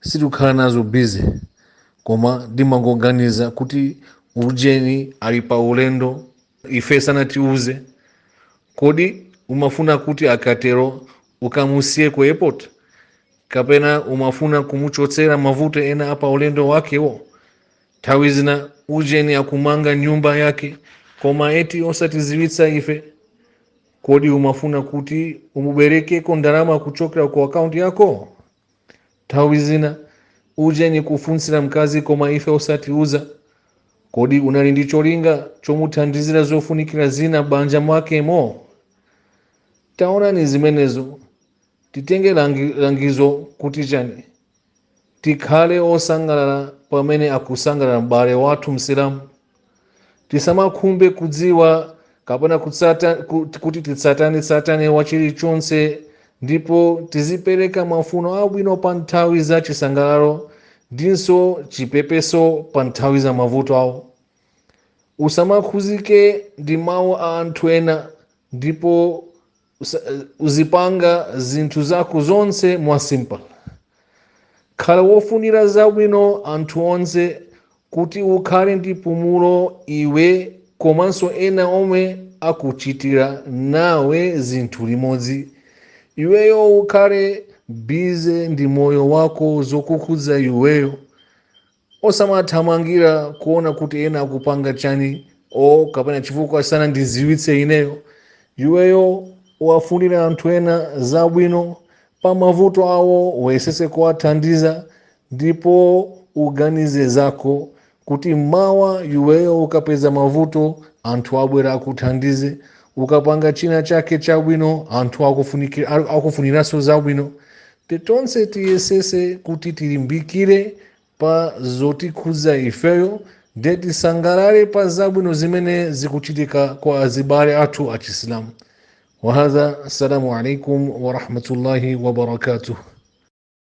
sitikukhala nazo busy koma ndimangoganiza kuti ujeni ali pa ulendo ife sanatiuze kodi umafuna kuti akatero ukamusiye ku airport kapena umafuna kumuchotsera mavuto ena apa ulendo wakewo nthawi zina ujeni akumanga nyumba yake koma eti osatiziwitsa ife kodi umafuna kuti umuberekeko ndalama kuchokera ku akaunti yako Nthawi zina ujeni kufunsira mkazi koma ife osatiuza. Kodi unali ndi cholinga chomuthandizira zofunikira zina m'banja mwakemo? Taonani zimenezo. Titenge langi- langizo kuti chani? Tikhale osangalala pamene akusangalala m'bale wathu Msilamu. tisamakhumbe kudziwa kapena kutsata, kut- kuti tsatanetsatane wa chilichonse ndipo tizipereka mafuno abwino pa nthawi za chisangalalo ndinso chipepeso pa nthawi za mavuto awo usamakhuzike ndi mawu a anthu ena ndipo Usa- uzipanga zinthu zako zonse mwa simple khala wofunira zabwino anthu onse kuti ukhale ndi pumulo iwe komanso ena omwe akuchitira nawe zinthu limodzi iweyo ukhale busy ndi moyo wako zokukhudza iweyo osamathamangira kuona kuti ena akupanga chani o kapena chifukwa sanandiziwitse ineyo iweyo wafunire anthu ena zabwino pa mavuto awo wayesese kuwathandiza ndipo uganize zako kuti mawa iweyo ukapeza mavuto anthu abwera akuthandize ukapanga china chake chabwino anthu akufuniki- akufuniraso zabwino Te tonse tiyesese kuti tilimbikire pa zotikhudza ifeyo nde tisangalale pa zabwino zimene zikuchitika kwa azibale athu achisilamu wahadha assalamu alaikum warahmatullahi wabarakatuh